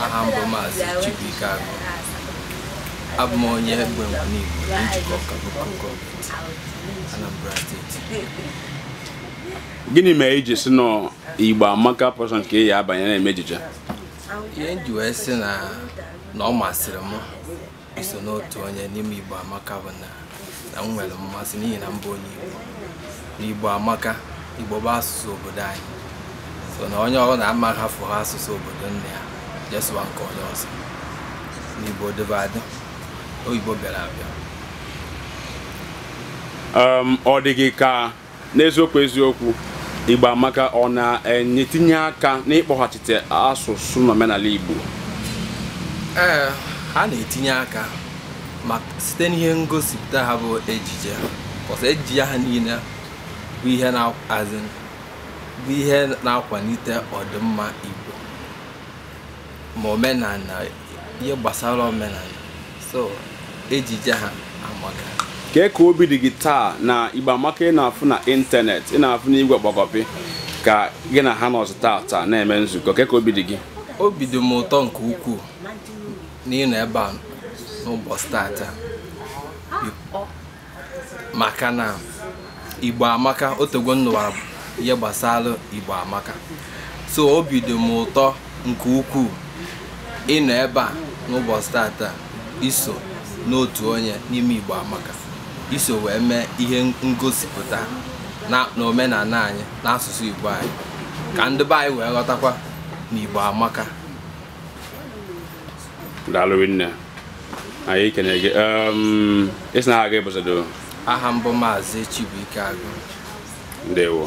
aha m bụ maazị Chibuike Agụ abụ m onye Egbengwu Nimo na Njikọka local gọọmenti Anambra steeti gịnị mere i ji sị na Igbo amaka bụ sọ nke ị ya-abanye na-eme ejije ihe m ji wee sị na na ọ masịrị m iso n'otu onye n'ime Igbo Amaka bụ na na m nwere mmasị n'ihi na m bụ onye Igbo na Igbo Amaka Igbo bụ asụsụ obodo anyị so na onye ọbụna ama hafụ ha asụsụ obodo nne ya je sụwa nke onye ọzọ na Igbo dịbu adị oyibo bịara abịa um, ọ dị gị ka n'eziokwu eziokwu igbo amaka ọ na-etinye aka n'ịkpọghachite asụsụ na omenala igbo ee ha na-etinye aka ma site n'ihe ngosipụta ha bụ ejije cos ejije ha niile bụ ihe as in bụ ihe na-akwalite ọdịmma igbo ma omenala ihe gbasara omenala so ejije ha amaka kee ka obi dị gị taa na igbo amaka ị na-afụ na ịntanetị ị na-afụ na igwe ọgbakọpị ka gị na ha nọzụ taa taa na-eme nzukọ kee ka obi dị gị obi dị m ụtọ nke ukwuu n'ịnọ ebe a n'ụbọchị tata maka na igbo amaka otego m nụwara ihe gbasara igbo amaka so obi dị m ụtọ nke ukwuu ịnọ ebe a n'ụbọchị tata iso n'otu onye n'ime igbo amaka iso wee mee ihe ngosipụta na omenala anyị n'asụsụ igbo anyị ka ndị be anyị wee ghọtakwa na igbo amaka daalụ nne anyị ekene gị Em, ị sị na aha gị bụsado aha m bụ maazị Chibuike Agụ ndewo